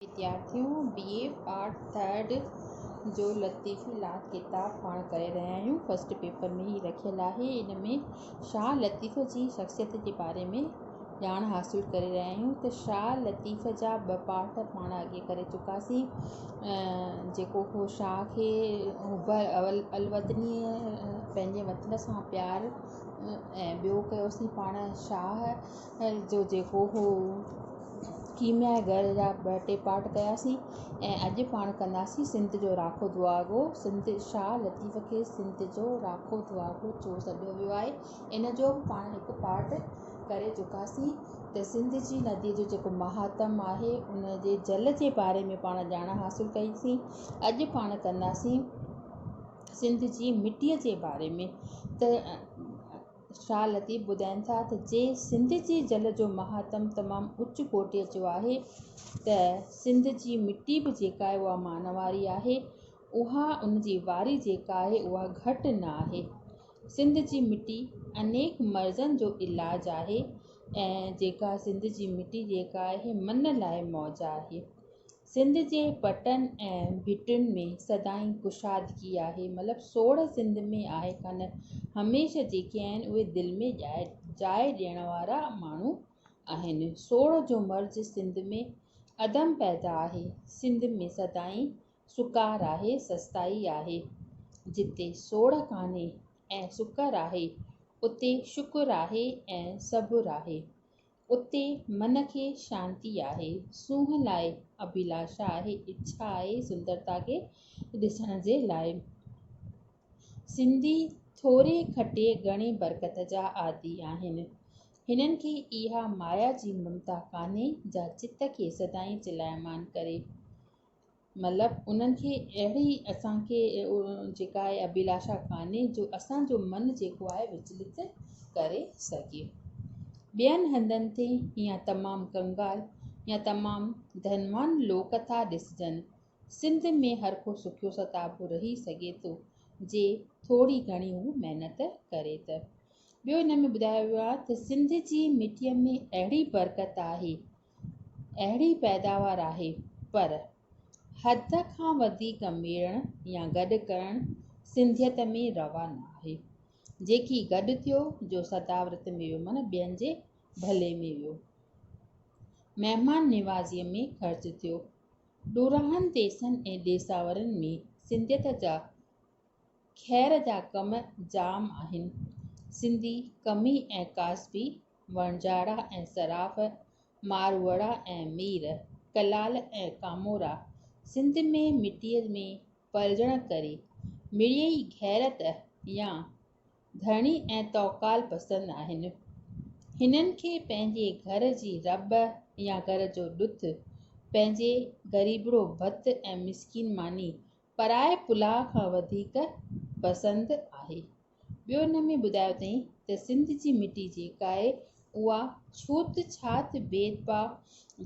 ويديارٿيون B A part third جو لطيفي لا ڪتاب پاڻ ڪري رهيا آهيون فرسٽ پيپر ۾ هي رکيل آهي ان ۾ شاهه لطيف جي شخصيت جي باري ۾ ڄاڻ حاصل ڪري رهيا آهيون ته شاهه لطيف جا ٻه پارٽ پاڻ اڳي ڪري چڪاسين جيڪو هو شاهه کي اوڀر اول الوطني پنهنجي وطن سان پيار ۽ ٻيو ڪيوسين پاڻ شاهه ان جو جيڪو هو ڪيميا گهر جا ٻه ٽي پارٽ ڪياسين ۽ اڄ پاڻ ڪنداسين سنڌ جو راکو دعاگو سنڌ شاهه لطيف کي سنڌ جو راکو دعاگو ڇو سڏيو ويو آهي ان جو به پاڻ هڪ پارٽ ڪري چڪاسين ته سنڌ جي ندي جو جيڪو مهاتم آهي ان جي جل جي باري ۾ پاڻ ڄاڻ حاصل ڪئي سين اڄ پاڻ ڪنداسين سنڌ جي مٽي جي باري ۾ ته شاهه لطيف ٻڌائين ٿا ته جي سنڌ جي جل جو مهاتم تمام اچ ڪوٽيء جو آهي ته سنڌ جي مٽي به جيڪا آهي اها مان واري آهي اها ان جي واري جيڪا آهي اها گهٽ نه آهي. سنڌ جي مٽي انيڪ مرضن جو علاج آهي ۽ جيڪا سنڌ جي مٽي جيڪا آهي من لاء موج آهي. سنڌ جي پٽن ۽ ڀٽين ۾ سدائين ڪشادگي آهي مطلب سوڙهه سنڌ ۾ آهي ڪانه هميشه جيڪي آهن اهي دل ۾ جاء ڏيڻ وارا ماڻهو آهن سوڙهه جو مرض سنڌ ۾ عدم پيدا آهي سنڌ ۾ سدائين سڪار آهي سستائي آهي جتي سوڙهه ڪانهي ۽ سڪر آهي اتي شڪر آهي ۽ صبر آهي اتي من کي شانتي آهي، سونهن لاء اڀيلاشا آهي، اڇا آهي سندرتا کي ڏسڻ جي لاء. سنڌي ٿوري کٽي گهڻي برڪت جا عادي آهن. هنن کي اها مايا جي ممتا ڪانهي جا چت کي سدائين چلائمان ڪري. مطلب انهن کي اهڙي اسان کي جيڪا آهي ابيلاشا ڪانهي جو اسان جو من جيڪو آهي وچلت ڪري سگهي ٻين هنڌن تي يا تمام ڪنگال يا تمام ڌنوان لوڪ ٿا ڏسجن سنڌ ۾ هر ڪو سکيو ستابو رهي سگهي ٿو جي ٿوري گهڻي هو محنت ڪري ته ٻيو هن ۾ ٻڌايو ويو آهي ته سنڌ جي مٽيء ۾ اهڙي برڪت آهي اهڙي پيداوار آهي پر حد کان وڌيڪ ميڙڻ يا گڏ ڪرڻ سنڌيت ۾ روا ناهي. جيڪي گڏ ٿيو جو صداورت ۾ ويو معنيٰ ٻين جي ڀلي ۾ ويو. مهمان نوازيء ۾ خرچ ٿيو. ڏورانهن ديسن ۽ ڏيساورن ۾ سنڌيت جا خير جا ڪم جام آهن. سنڌي ڪمي ۽ ڪاسبي، وڻجاڙا ۽ صراف، ماروئڙا ۽ مير، ڪلال ۽ ڪامورا، سنڌ ۾ مٽيء ۾ پلجڻ ڪري، مڙيئي غيرت يا ڌڻي ۽ توڪال پسند آهن. هنن کي پنهنجي گهر جي رٻ يا گهر جو ڏٿ، پنهنجي غريبڙو ڀت ۽ مسڪين ماني پرائي پلاء کان وڌيڪ پسند آهي. ٻيو ان ۾ ٻڌايو اٿئين ته سنڌ جي مٽي جيڪاهي اها ڇوت ڇات ڀيد ڀاء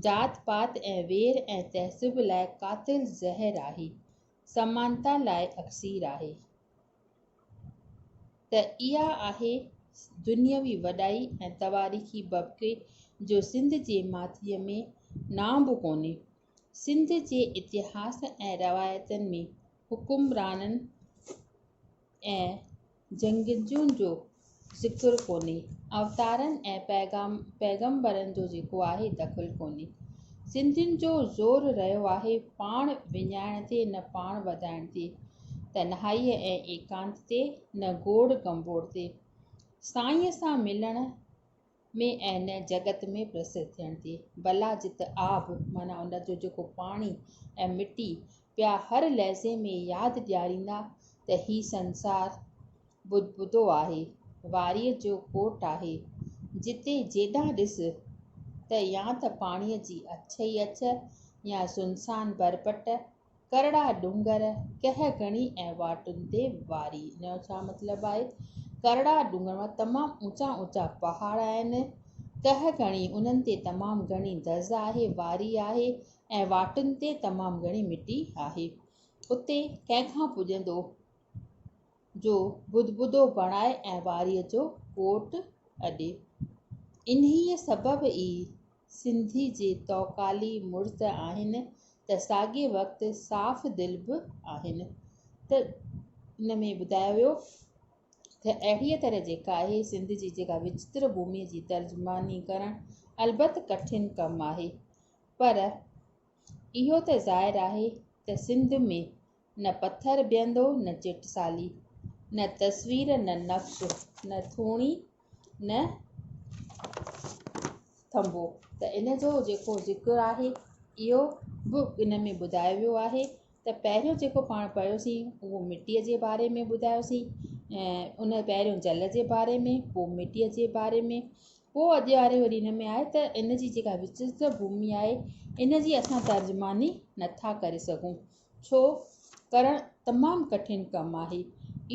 ذات پات ۽ وير ۽ تعصب لاء قاتل زهر آهي سمانتا لاء اڪسير آهي ته اها آهي دنيوي وڏائي ۽ تواريخي ببڪي جو سنڌ جي ماٿريء ۾ نانء به ڪونهي. سنڌ جي اتهاس ۽ روايتن ۾ حڪمرانن ۽ جنگجوئن جو ذڪر ڪونهي. اوتارن ۽ پيغمبرن جو جيڪو آهي دخل ڪونهي. سنڌين جو زور رهيو آهي پاڻ وڃائڻ تي نه پاڻ وڌائڻ تي. تنهائيء ۽ ايڪانت تي نه گوڙ گنڀوڙ تي. سائينء سان ملڻ ۾ ۽ نه جڳت ۾ پرسر ٿيڻ ٿي. بلا جت آب معنيٰ ان جو جيڪو پاڻي ۽ مٽي پيا هر لحظي ۾ ياد ڏياريندا ته هي سنسار بدبودو آهي، واريء جو ڪوٽ آهي، جتي جيڏانهن ڏس ته يا ته پاڻيء جي اڇ ئي اڇ يا سنسان بربٽ ڪرڙا ڏونگر ڪهه گهڻي ۽ واٽن تي واري ان جو ڇا مطلب آهي ڪرڙا ڏونگر مان تمام اوچا اوچا پهاڙ آهن ڪهه گهڻي انهن تي تمام گهڻي دز آهي واري آهي ۽ واٽن تي تمام گهڻي مٽي آهي اتي ڪنهن کان پڄندو جو بدبدو بڻائي ۽ واري جو ڪوٽ اڏي انهيء سبب ئي سنڌي جي توڪالي مڙس آهن ته ساڳئي وقت صاف دل به آهن ته ان ۾ ٻڌايو ويو ته اهڙيء طرح جيڪا آهي سنڌ جي جيڪا وچتر ڀومي جي ترجماني ڪرڻ البت ڪٺن ڪم آهي پر اهو ته ظاهر آهي ته سنڌ ۾ نه پٿر بيهندو نه چٽ سالي، نه تصوير نه نقش نه ٿوڻي نه ٿنڀو. ته ان جو جيڪو ذڪر آهي اهو به ان ۾ ٻڌايو ويو آهي ته پهريون جيڪو پاڻ پڙهيوسين اهو مٽيء جي باري ۾ ٻڌايوسين ۽ ان پهريون جل جي باري ۾ پوء مٽيء جي باري ۾ پوء اڄ واري وري ان ۾ آهي ته ان جي جيڪا وچ جي ڀومي آهي ان جي اسان ترجماني نٿا ڪري سگهون ڇو ڪرڻ تمام ڪٺن ڪم آهي.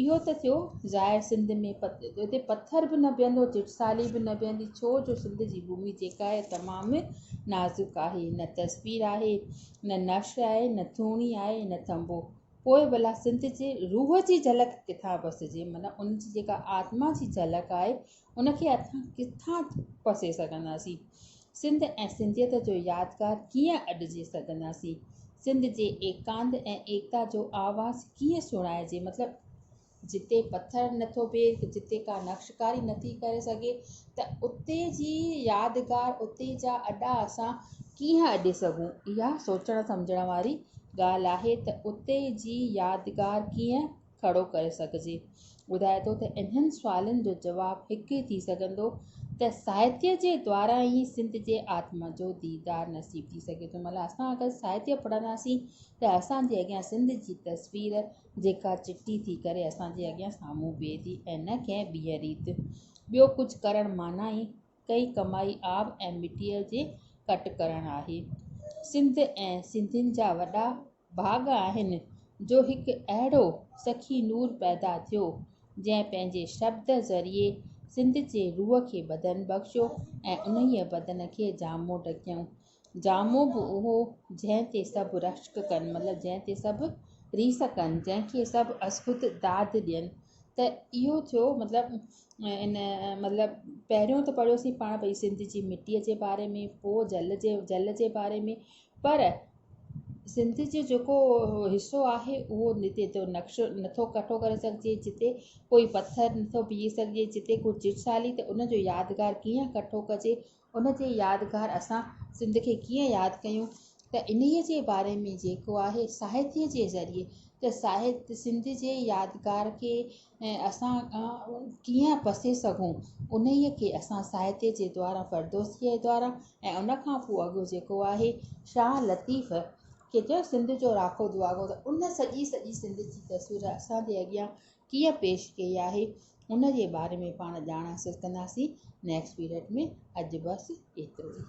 اهو ته ٿيو ظاهر سنڌ ۾ اتي پٿر به نه بيهندو چٽسالي به نه بيهندي ڇو جو سنڌ جي ڀومي جيڪا آهي تمام نازڪ آهي نه تصوير آهي نه نقش آهي نه ٿوڻي آهي نه ٿنڀو پوء ڀلا سنڌ جي روح جي جهلڪ ڪٿان پسجي معنيٰ ان جي جيڪا آتما جي جهلڪ آهي ان کي اسان ڪٿان پسي سگهنداسين؟ سنڌ ۽ سنڌيت جو يادگار ڪيئن اڏجي سگهنداسين؟ سنڌ جي ايڪانت ۽ ايڪتا جو آواز ڪيئن سڻائجي؟ مطلب جتي پٿر نٿو بيهي، جتي ڪا نقشڪاري نٿي ڪري سگهي ته اتي جي يادگار، اتي جا اڏا اسان ڪيئن اڏي سگهون؟ اها سوچڻ سمجهڻ واري ڳالهه آهي ته اتي جي يادگار ڪيئن کڙو ڪري سگهجي. ٻڌائي ٿو ته انهن سوالن جو جواب هڪ ئي ٿي سگهندو ته ساهتيه جي دواران ئي سنڌ جي آتما جو ديدار نصيب ٿي سگهي ٿو. مطلب اسان اگر ساهتيه پڙهنداسين ته اسان جي اڳيان سنڌ جي تصوير جيڪا چٽي ٿي ڪري اسان جي اڳيان سامهون بيهي ٿي ۽ نه ڪنهن ٻيء ريت. ٻيو ڪجهه ڪرڻ معنيٰ ئي ڪئي ڪمائي آب ۽ مٽيء جي ڪٽ ڪرڻ آهي. سنڌ ۽ سنڌين جا وڏا ڀاڳ آهن جو هڪ اهڙو سخي نور پيدا ٿيو، جنهن پنهنجي شبد ذريعي سنڌ جي روح کي بدن بخشيو ۽ انهيء بدن کي جامو ڍڪيائون. جامو به اهو، جنهن تي سڀ رشڪ ڪن، مطلب جنهن تي سڀ ريس ڪن، جنهن کي سڀ اسڪت داد ڏين ته اهو ٿيو مطلب ان مطلب پهريون ته پڙهيوسين پاڻ ڀئي سنڌ جي مٽيء جي باري ۾ پوء جل جي جل جي باري ۾ پر سنڌ جو جيڪو حصو آهي اهو جتي تو نقشو نٿو ڪٺو ڪري سگهجي جتي ڪوئي پٿر نٿو پيهي سگهجي جتي ڪو چٽسالي ته ان جو يادگار ڪيئن ڪٺو ڪجي ان جي يادگار اسان سنڌ کي ڪيئن ياد ڪيون ته انهي جي باري ۾ جيڪو آهي ساهتي جي ذريعي ته ساهت سنڌ جي يادگار کي ۽ اسان ڪيئن پسي سگهون انهيء کي اسان ساهتيه جي دوارا فردوسيء جي دوارا ۽ ان کان پوء اڳ جيڪو آهي شاهه لطيف کي چيو سنڌ جو راکو دعاگو ته ان سڄي سڄي سنڌ جي تصوير اسان جي اڳيان ڪيئن پيش ڪئي آهي ان جي باري ۾ پاڻ ڄاڻ حاصل ڪنداسين نيڪسٽ پيريڊ ۾ اڄ بس ايترو ئي.